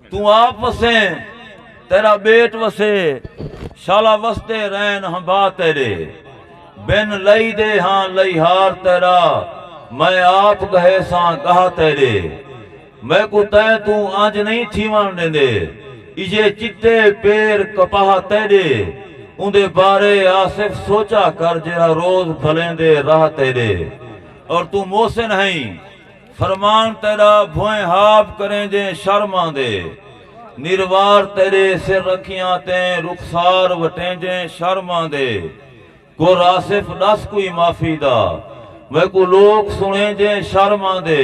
توں آپ وسیں تیرا بیٹ وسے شالا وسدے رہن ہمبا تیرے بن لئی دے ہاں لئیہار تیرا میں آپ گہے ساں گاہ تیرے میکوں تیں توں انج نہیں تھیون ڈیندے ایجھے چٹے پیر کپاہ تیرے اوندے بارے آصف سوچا کر جیڑھا روز بھلیندے راہ تیرے اور توں محسن ہئیں فرمان تیݙا بھوئیں ہاب کریں جیں شرم آندے نروار تیݙے سر رکھیاں تیں رخسار وٹیں جیں شرم آندے کر آصف ݙس کوئی معافی دا میکوں لوک سݨیں جیں شرم آندے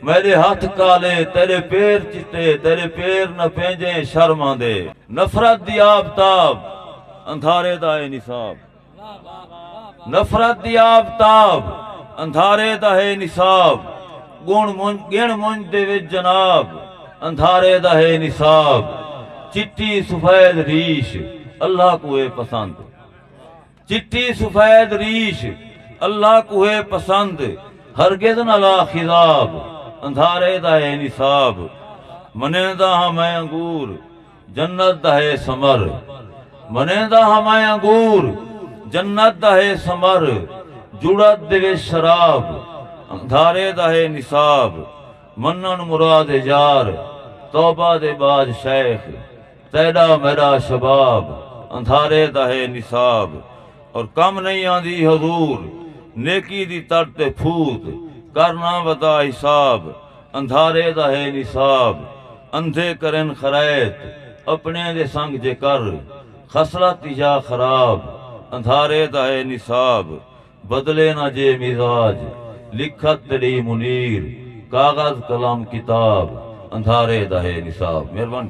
میݙے ہتھ کالے تیݙے پیر چٹے تیݙے پیر نپیں جیں شرم آندے۔ نفرت دی آب تاب اندھارے دا اے نصاب۔ نفرت دی آفتاب اندھارے دا ہے نصاب گن منج گن منج دے وچ جناب اندھارے دا ہے نصاب چٹی سفید ریش اللہ کو ہے پسند چٹی سفید ریش اللہ کو ہے پسند ہرگز نہ لا خضاب اندھارے دا ہے نصاب منیندا ہاں میں انگور جنت دا ہے ثمر منیندا ہاں میں انگور جنت دا ہے ثمر جڑت دے وچ شراب اندھارے دا ہے نصاب منن مراد ہے یار توبہ دے بعد شیخ تیڈا میڈا شباب اندھارے دا ہے نصاب اور کم نہیں آندی حضور نیکی دی تڑ تے پھوت کر نہ ودا حساب اندھارے دا ہے نصاب اندھے کرن خرائط اپنڑیں دے سنگ جے کر خصلت یا خراب اندھارے دا ہے نصاب بدلے نہ جے مزاج لکھت تیڈی منیر کاغذ قلم کتاب اندھارے دا ہے نصاب مہربانی